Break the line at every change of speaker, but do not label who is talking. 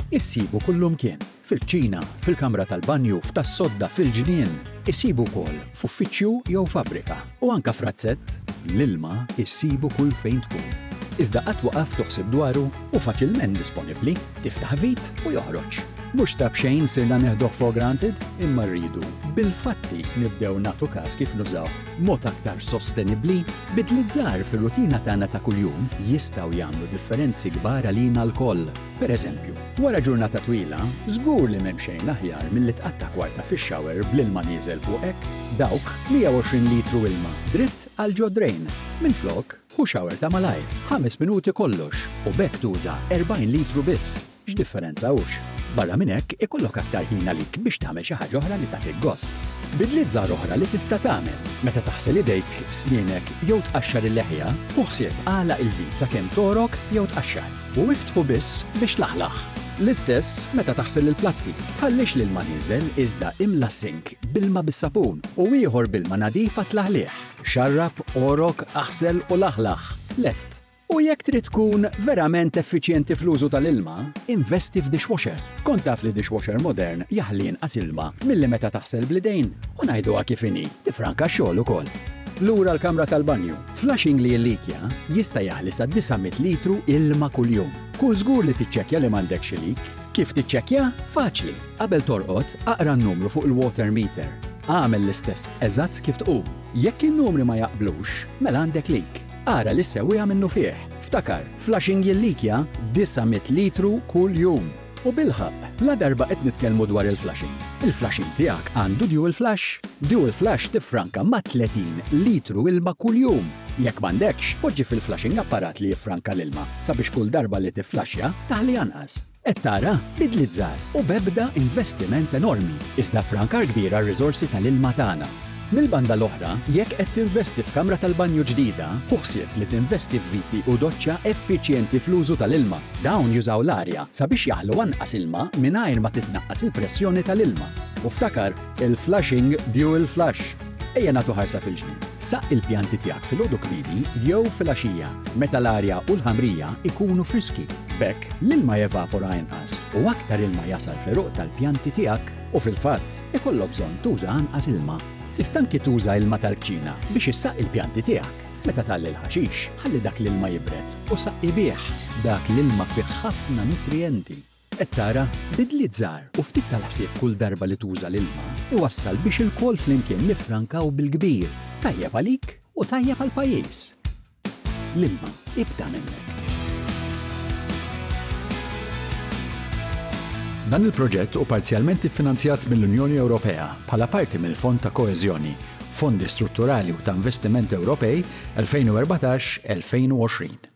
Issibu kullumkien, fil-kċina, fil-kamra tal-banju, f'tas-sodda, fil-ġnien. Issibu wkoll f'uffiċċju jew fabbrika, u anke f'razzett. L-ilma issibu kull fejn tkun. Iżda qatt waqaft toħsib dwaru? Hu faċilment disponibbli, tiftaħ vit u joħroġ. Mhux ta' b'xejn sirna neħduh for granted, imma rridu, bil-fatti, nibdew nagħtu każ kif nużawh. Mod aktar sostenibbli, bidliet żgħar fir-rutina tagħna ta' kuljum jistgħu jagħmlu differenzi kbar għalina lkoll. Pereżempju, wara ġurnata twila, żgur li m'hemm xejn aħjar milli tqatta' kwarta fix-shower bl-ilma nieżel fuqek, dawk 120 litru ilma dritt għal ġo d-drain. Minflok, ħu shower ta' malajr, ħames minuti kollox, u b'hekk tuża 40 litru biss. X'differenza hux? Barra minn hekk, ikollok aktar ħin għalik biex tagħmel xi ħaġa oħra li tagħtik gost. Bidliet żgħar oħra li tista' tagħmel, Meta taħsel idejk, snienek jew tqaxxar il-leħja, ħu ħsieb agħlaq il-vit sakemm togħrok jew tqaxxar, u iftħu biss biex tlaħlaħ. L-istess meta taħsel il-platti, tħallix l-ilma nieżel iżda imla s-sink b'ilma bis-sapun u ieħor b'ilma nadif għat-tlaħliħ. Xarrab, għorok, aħsel u laħlaħ. Lest! U jekk trid tkun verament effiċjenti fl-użu tal-ilma, investi f'dishwasher. Kont taf li dishwasher modern jaħli inqas ilma milli meta taħsel bl-idejn? U ngħiduha kif inhi, tiffranka x-xogħol ukoll. Lura l-kamra tal-banju, flushing li jillikja jista' jaħli sa 900 litru ilma kuljum. Kun żgur li tiċċekkja li m'għandekx ilik. Kif tiċċekkja? Faċli! Qabel torqod, aqra n-numru fuq il-water meter. Agħmel l-istess eżatt kif tqum. Jekk in-numri ma jaqblux, mela għandek leak. Ara li ssewwiha minnufih. Ftakar, flushing jillikja 900 litru kuljum. U bilħaqq, ladarba qed nitkellmu dwar il-flushing, il-flushing tiegħek għandu dual flush? Dual flush tiffranka ma' 30 litru ilma kuljum! Jekk m'għandekx, poġġi fil-flushing apparat li jiffranka l-ilma sabiex kull darba li tifflaxxja, taħli anqas. Qed tara? Bidliet żgħar u b'ebda investiment enormi, iżda ffrankar kbir għar-riżorsi tal-ilma tagħna. Mill-banda l-oħra, jekk qed tinvesti f'kamra tal-banju ġdida, ħu ħsieb li tinvesti f'viti u doċċa effiċjenti fl-użu tal-ilma. Dawn jużaw l-arja sabiex jaħlu anqas ilma mingħajr ma titnaqqas il-pressjoni tal-ilma. U ftakar, il-flushing Buell Flush! Ejja nagħtu ħarsa fil-ġnien. Saqq il-pjanti tiegħek filgħodu kmieni jew filgħaxija meta l-arja u l-ħamrija jkunu friski. B'hekk, l-ilma jevapora inqas u aktar ilma jasal fl-għeruq tal-pjanti tiegħek u fil-fatt, ikollok bżonn tuża anqas ilma. Tista' anki tuża ilma tal-kċina biex issaqq il-pjanti tiegħek. Meta tgħalli l-ħaxix, ħalli dak l-ilma jibred u saqqi bih. Dak l-ilma fih ħafna nutrijenti. Qed tara? Bidliet żgħar u ftit tal-ħsieb kull darba li tuża l-ilma jwassal biex ilkoll flimkien niffrankaw bil-kbir. Tajjeb għalik u tajjeb għall-pajjiż. L-ilma, ibda minn hekk. Dan il-proġett hu parzjalment iffinanzjat mill-Unjoni Ewropea bħala parti mill-Fond ta' Koeżjoni, Fondi Strutturali u ta' Investiment Ewropej 2014-2020.